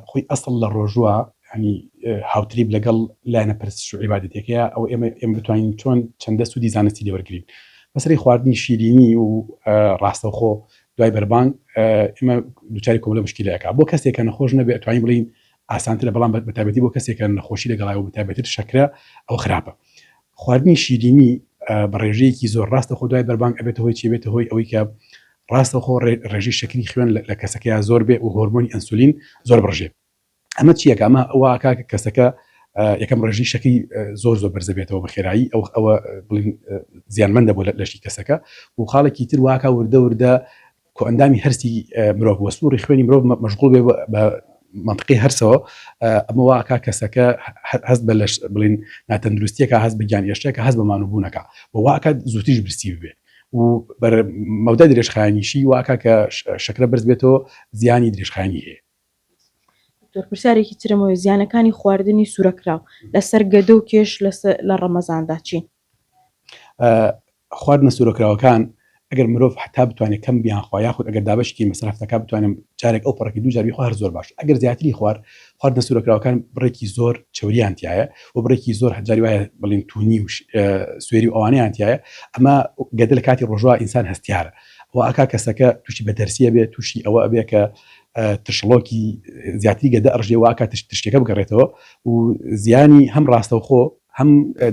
خۆی ئەسڵ لە ڕۆژوە یانی هاوتریب لەگەڵ لایەنە پەرستش و عیبادەتیەکەیە ئەوە ئێمە ئێمە بتوانین چۆن چەندە سودی زانستی لێوەرگرین بەسەری خواردنی شیرینی و ڕاستەوخۆ دوای بەربانگ ئێمە دوچاری کۆمەلە مشکیلە ئەکا بۆ کەسێک کە نەخۆش نەبێ توانین بڵین ئاسانترە بەڵام بەتابەتی بۆ کەسێکە نەخۆشی لەگەڵایەوە بەتابەتر شەکرە ئەوە خراپە خواردنی شیرینی بە ڕێژەیەکی زۆر ڕاستەخۆ دوای بەربانگ ئەبێتە هۆی چی؟ ئەبێتە هۆی ئەوەی کە ڕاستەخۆ ڕێژەی شەکری خوێن لە کەسەکەیا زۆر بێ و هۆرمۆنی ئەنسولین زۆر بڕژێ. ئەمە چی ئەکا؟ ئەمە وا ئەکا کە کەسەکە یەکەم ڕێژەی شەکری زۆر زۆر بەرزە بێتەوە بە خێرایی ئەو ئەوە بڵێن زیانمەندە بۆ لەشی کەسەکە و خاڵێکی تر وا ئەکا وردە وردە کۆئەندامی هەرسی مرۆڤ وە سوڕی خوێنی مرۆڤ مەشغوڵ بێ بە منطقی هەرسەوە ئەمە واکە کەسەکە هەست بە لەش بڵین ناتەندروستیەکە هەست بەگیان هێشتێکە هەست بەمانوبوونەکە بە واکە زووتیش برسی بێ و بەر مەودا درێژخایانیشی واکە کە شەکرە برز بێتەوە زیانی درێژخانی هەیە دکتۆر پرسیارێکی ترمەوە زیانەکانی خواردنی سوورەکراو لەسەر گەدە و کێش لە ڕەمەزاندا چین خواردنە سورەکراوەکان ئەگەر مرۆڤ حەتا بتوانێت کەم بیانخوا یاخود ئەگەر دابەشی کەین بەسەر هەفتەکە بتوانێت جارێک ئەو پەڕەکەی دوو جار بیخوا هەر زۆر باشە ئەگەر زیاتری خوارد خواردنە سورەکراوەکان بڕێکی زۆر چەوریان تیایە و بڕێکی زۆر هەرجاری وایە بڵین تونی و سوێری و ئەوانەیان تیایە ئەمە گەدە لە کاتی ڕۆژوا ئینسان هەستیارە و ئەکا کەسەکە تووشی بە تەرسیە بێت تووشی ئەوە ئەبێ کە ترشڵۆکی زیاتری گەدە ئەڕژێ واکە تشت تشتەکە بگەڕێتەوە و زیانی هەم ڕاستەوخۆ هەم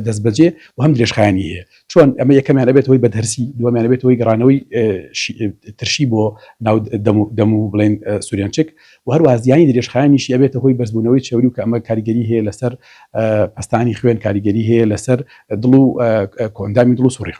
دەستبەجێ و هەم درێژخایەنی هەیە، چۆن؟ ئەمە یەکەمیان ئەبێتە هۆی بەدهرسی، دووەمیان ئەبێتە هۆی گەڕانەوەی ترشی بۆ ناو دەم و بڵێن سورێنچک و هەروەها زیانی درێژخایەنیشی ئەبێتە هۆی بەرزبوونەوەی چەوری و کە ئەمە کاریگەری هەیە لەسەر پەستانی خوێن، کاریگەری هەیە لەسەر دڵ و کۆئەندامی دڵ و سوڕی خوێن.